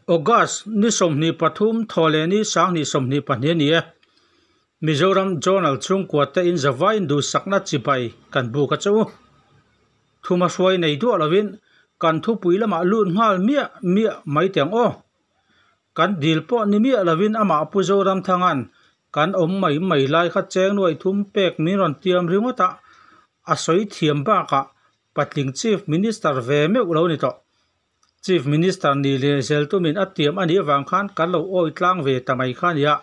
August ni sawmhnih pathum thaw leh ni sanghni sawmhnih pahnih a ni a, Mizoram Zonal chhungkua tein zava induhsakna chibai kan buk a chu. Thuma hruai nei duah lovin kan thupui lamah lut nghal miah miah mai teng aw. Kan dil pawh ni miah lovin amah Pu Zoramthanga'n kan awm mai mai lai kha Chengnuai thum pek min rawn tiam ringawt a, a sawi thiam bakah patling Chief Minister ve meuh lo ni tawh. Chief Minister nih leh zel tumin a tiam a nih avang khan kan lo awi tlang ve ta mai kha nia,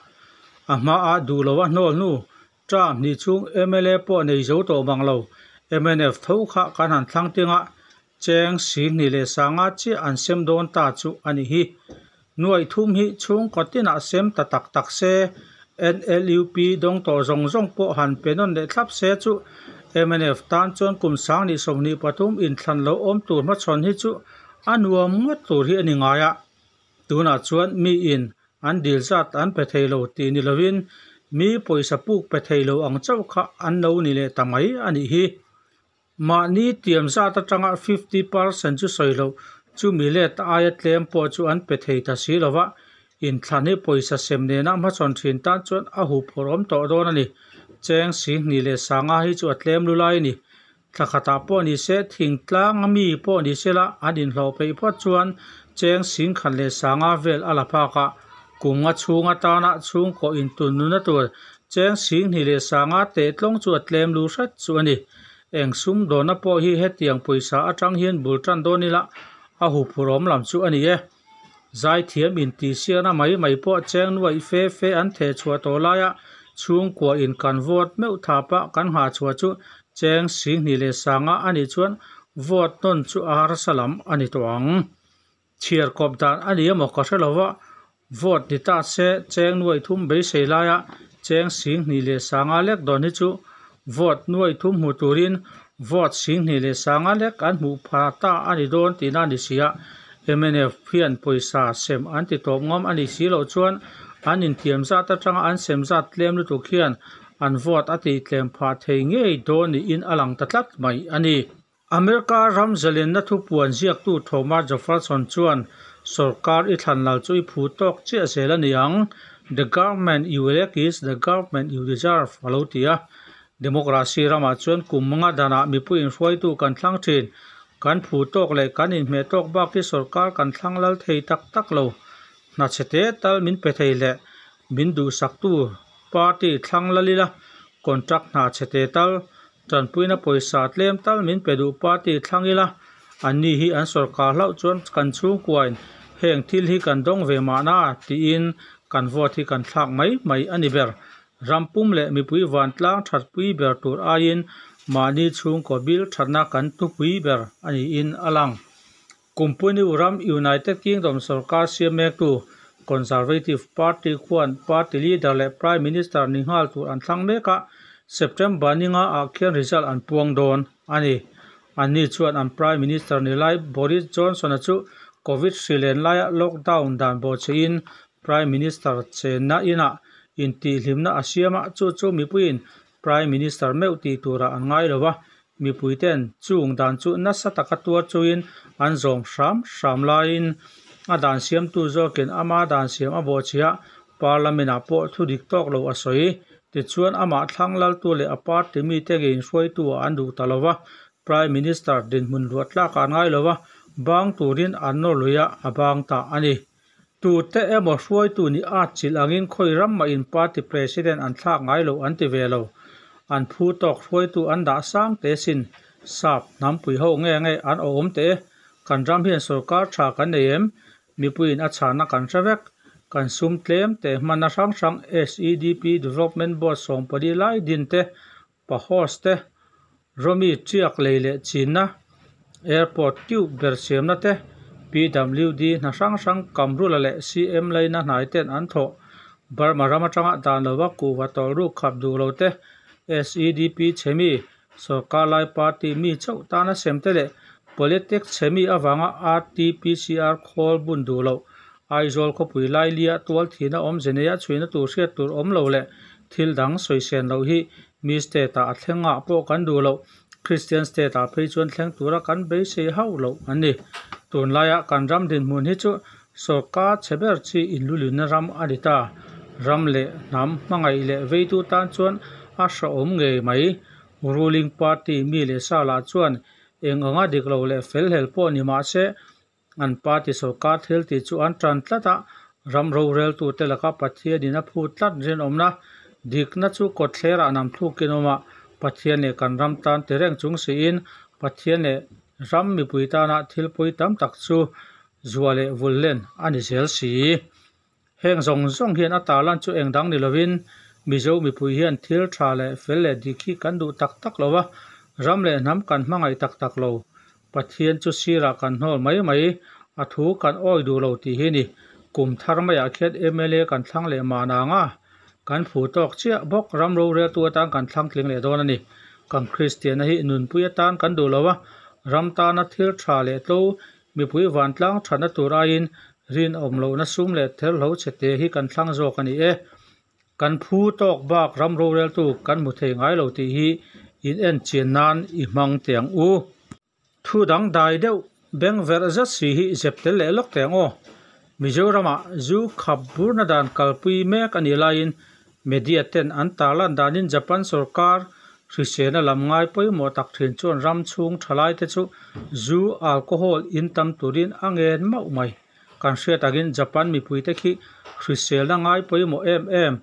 a hmaah duh lo a hnawl hnu, Trump nih chung mla pawh nei zo tawh mang lo, mnf tho kha kan han thlang teng a, Cheng, Sing nih leh sanga chiah an sem dawn ta chu a nih hi. Nuaih thum hi chhungkaw tinah sem ta tak tak se, NLUP dawng tawh zawng zawng pawh han pe nawn leh thlap se chu mnf tan chuan kum sangni sawmhnih pathum inthlan lo awm tur hmachhawn hi chu a nuam ngawt tur hi a ni ngai a, tunah chuan mi in an dil zat an pe thei lo tih ni lovin mi pawisa puk pe thei lo ang chauh kha an lo ni leh ta mai a nih hi. Mahni tiam zat atanga fifty percent chu sawi loh, chumi let aia tlem pawh chu an pe thei ta si lova, inthlan hi pawisa sem nena hmachawn thin tan chuan a hup hawrh awm tawh dawn a ni. Cheng si hnih leh sanga hi chu a tlem lu lai a ni. Thla khatah pawh ni se, thingtlanga mi pawh ni se la, an inhlawh peih phawt chuan cheng si khat leh sanga vel a la phak a. Kung a chhung atana chhungkaw intunnuna tur cheng si hnih leh sanga teh tlawng chu a tlem lu hret chu a ni. Eng sum dawna pawh hi hetiang pawisa atang hian bul tan dawn ila a hupur awm lam chu a ni e. Zai thiam in tih siakna mai mai pawh cheng nuaih fe fe an theh chhuah tawh laia chhungkua in kan vote meuh tha pah kan nghah chhuah chu cheng si hnih leh sanga a nih chuan vote nawn chu arsa lam a ni tawh ang. Chhiar kawp dan a ni emaw ka hre lo va, vote ni ta se cheng nuai thum beisei laia cheng sing hnih leh sanga lek dawn hi chu vote nuai thum hmu turin vote sing hnih leh sanga lek an hmuh pha ta a ni dawn tihna a ni si a, mnf hian pawisa sem an ti tawp ngawm a nih si loh chuan an inthiam zat atanga an sem zat tlem lutuk hian an vote a tihtlem phah thei ngei dawn niin a lang ta tlat mai a ni. America ram zalenna thu puan ziaktu Thomas Jefferson chuan, Sorkar i thlan lal chu i phu tawk chiah zel a ni ang, The government you elect is the government you deserve, a lo ti a. Democracy ramah chuan kum anga danah mipui inhruaitu kan thlang thin, kan phu tawk leh kan inhmeh tawk bak hi sorkar kan thlang lal thei tak tak lo. Hna chhe te tal min pe thei hle. Min duhsaktu party thlang lal ila, contract hna chhe te tal, tanpuina pawisa tlem tal min pe duh party thlang ila, anni hi an sawrkar hlauh chuan kan chhungkuain heng thil hi kan dawng ve mahna tiin kan vote hi kan thlak mai mai a ni ber. Ram pum leh mipui vantlang thatpui ber tur aiin mahni chhungkaw bil thatna kan tupui ber a niin a lang. Company uram United Kingdom sorkar siam mektu Conservative Party khuan party leader leh Prime Minister ni nghal tur an thlang mek a, September ni nga ah khian result an puang dawn a ni. Anni chuan an Prime Minister ni lai Boris Johnson-a chu Covid hri len laiah lockdown dan baw che in Prime Minister chenna inah inti hlimna a siam a, chu chu mipuiin Prime Minister meuh tih tura an ngai lo a, mipuite'n chung dan chu nasa taka tuar chuin an zawm hram hram laiin a dan siamtu zawkin ama dan siam a bawhchhiah Parliament-ah pawh thu dik tawk lo a sawi. Tichuan, amah thlang laltu leh a party mite nge inhruaituah an duh ta lo a, Prime Minister dinhmun luah tlakah an ngai lo a, bang turin an nawr luiha a bang ta a ni. Tute emaw hruaitu nih atchilh angin khawi ram mah in party president an thlak ngai lo an ti ve lo. An phu tawk hruaitu an dah sang te sin, sap, hnampui ho nge nge an awm teh e. Kan ram hian sorkar tha kan nei em? Mipuiin a chhana kan hre vek. Kan sum tlem teh hmana hrang hrang, SEDP, Development Board sawmpali lai din te, Pa host te, Romi tiak lei leh chinna, airport teuh ber siamna te, PWD hna hrang hrang, Kamrula leh CM laina hnai ten an thawh, Burma ram atanga dan lo va kuh va tawlh ruk khap duh lo te, SEDP chhemi, sorkar lai party mi chauh tana sem te leh politics chhemi avanga RTPCR khawl bun duh loh Aizawl khawpui lailia tual thihna awm ze neia chhuina tur hriat tur awm lo leh thil dang sawi sian loh hi mi state ah a thleng ngah pawh kan duh loh, Christian state ah phei chuan thleng tura kan beisei hauh loh an ni. Tunlaiah kan ram dinhmun hi chu sawrkar chhe ber chi inlulinna ram a ni ta, ram leh hnam hmangaih leh veitu tan chuan a hraawm ngei mai. Ruling party mi leh sa lah chuan eng anga dik lo leh fel hel pawh ni mah se an party sawrkar thil tih chu an tan tlat a, ram rorel tu te laka Pathian in a phut tlat rinawmna dikna chu kawtthler ah nam thluk in awm a, Pathian leh kan ram tan ti reng chung si in Pathian leh ram mipui tan ah thil pawi tam tak chu zua leh vul len a ni zel si. Heng zawng zawng hian a tala chu eng dang ni lovin Mizo mipui hian thil tha leh fel leh dik hi kan duh tak tak lo a, ram leh hnam kan hmangaih tak tak lo. Pathian chu sirah kan hnawl mai mai, a thu kan awi duh lo tih hi ni. Kum thar maiah khian mla kan thlang leh mahna ang a, kan phu tawk chiah bawk ram rorel tu atan kan thlang tling leh dawn a ni. Kan Kristiana hi nunpui atan kan duh lo a, ram tana thil tha leh tlo Mipui vantlang thatna tur aiin rinawm lohna sum leh ther hlo chhe te hi kan thlang zawk a ni e. Kan phu tawk bak ram roreltu kan hmu thei ngai lo tih hi inenchian nan i hmang teh ang u. Thu dangdai deuh, bengverh zet si hi zep tel leh lawk teh ang aw. Mizoramah zu khap burna dan kalpui mek a nih laiin media ten an tarlan danin Japan sawrkar hrisena lam ngai pawimawh tak thin chuan ram chhung tha laite chu zu alcohol in tam turin a ngen mauh mai. Kan hriat angin Japan mipuite khi hriselna ngai pawimawh em em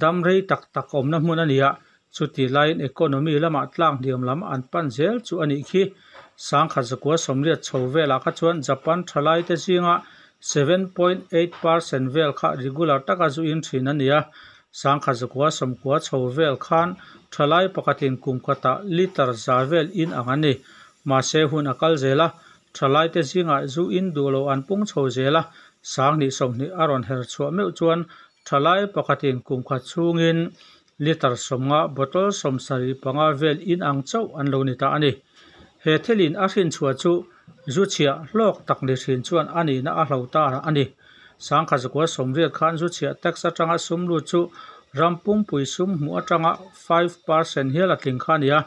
damrei tak tak awmna hmun a nia Chuti laiin economy lama tlâng hniam lam an pan zel chu a nih khi. Sangkhat zakua sawmriat chho velah kha chuan Japan thalaite zinga seven point eight per cent vel kha regular taka zuin thin a ni a. Sangkhat zakua sawmkua chho vel khan thalai pakhatin kum kata litre za vel in ang a ni. Mahse hun a kal zel a, thalaite zingah zu in duh lo an pung chho zel a, sang hnih sawmhnih a rawn her chhuah meuh chuan thalai pakhatin kum khat chhungin Litre sawmnga bottle sawm sarih panga vel in ang chauh an lo ni ta a ni. He thil in a hrin chhuah chu zu chhiah hlawk tak ni hrin chuan a nihna a hlo ta a ni. Sangkha zakua sawm riat khan zu chhiah tax atanga sum lut chu ram pumpuii sum hmuh atanga five per cent hial a tling kha a ni a,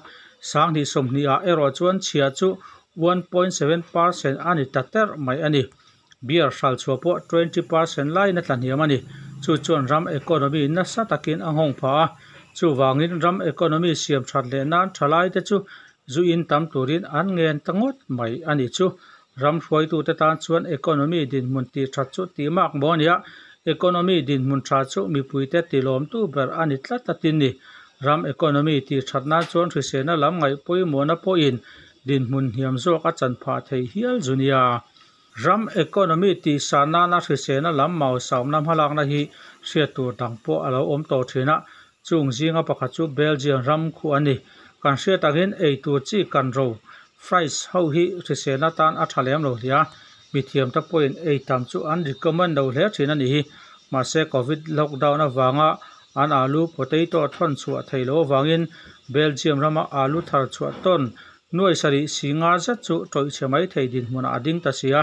sanghnih sawmhnih ah erawh chuan chhiah chu one point seven per cent a ni ta terh mai a ni. Beer hral chhuah pawh twenty percent lai na tla hniam a ni. Chu chuan ram economy nasa takin a nghawng phah a. Chuvangin ram economy siam that leh nan thalai te chu zu in tam turin an ngen ta ngawt mai a ni chu. Ram hruaitute tan chuan economy dinhmun tih that chu tih mak maw nia? Economy dinhmun tha chu mipuite tilawmtu ber a ni tlat a tin ni. Ram economy tih that nan chuan hrisena lam ngaih pawimawhna pawhin dinhmun hniam zawk a chan phah thei hial zu nia. Ram economy tih san nana hrisena lam mau sawmna hmalakna hi hriat tur dang pawh a lo awm tawh thin a, chung zinga pakhat chu Belgian ram khu a ni. Kan hriat angin ei tur chi kan ro, fries, ho hi hrisena tan a tha lem lo hliah a, mithiam te pawhin ei tam chu an recommend lo hle thin a ni hi. Mahse Covid lockdown avanga an alu, potato, a thawn chhuah thei lo avangin Belgium rama alu thar chhuah tawn Nuaih sarih si ngar zet chu tawihchhe mai thei dinhmunah a ding ta si a,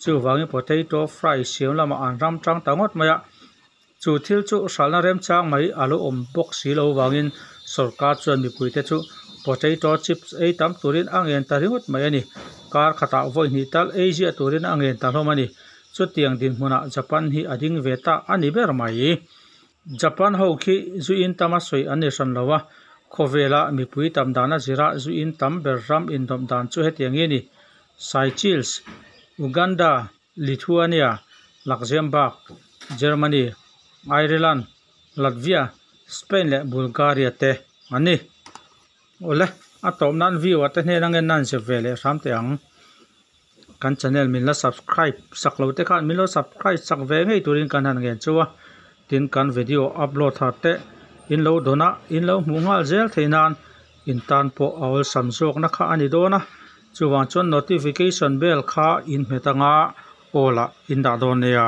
chuvangin potato fry siam lamah an ram tang ta ngawt mai a. Chu thil chu hralhna remchang mai a lo awm bawk si lo vangin sorkar chuan mipuite chu potato chips ei tam turin a ngen ta ringawt mai a ni. Kar khatah vawihnih tal ei ziah turin a ngen ta hlawm a ni. Chutiang dinhmunah Japan hi a ding ve ta a ni ber mai. Japan ho khi Zui In Tam a sawi an ni hran lo a, khawvela mipui tam dana zira Zui In Tam ber ram indawmh dan chu hetiang nge ni, Seychelles, Uganda, Lithuania, Luxembourg, Germany, Ireland, Latvia, Spain leh Bulgaria te an ni. Awle, a tawp nan viewer te hnena ngen nan zia ve leh hram teh ang. Kan channel min la subscribe sak lo te khan min lo subscribe sak ve ngei turin kan han ngen chu a, tin kan video upload har teh in lo dawn a, in lo hmuh nghal zel thei nan in tan pawh a awlsam zawkna kha a ni dawn a, chuvang chuan notification bell kha in hmet anga all ah in dah dawn nia.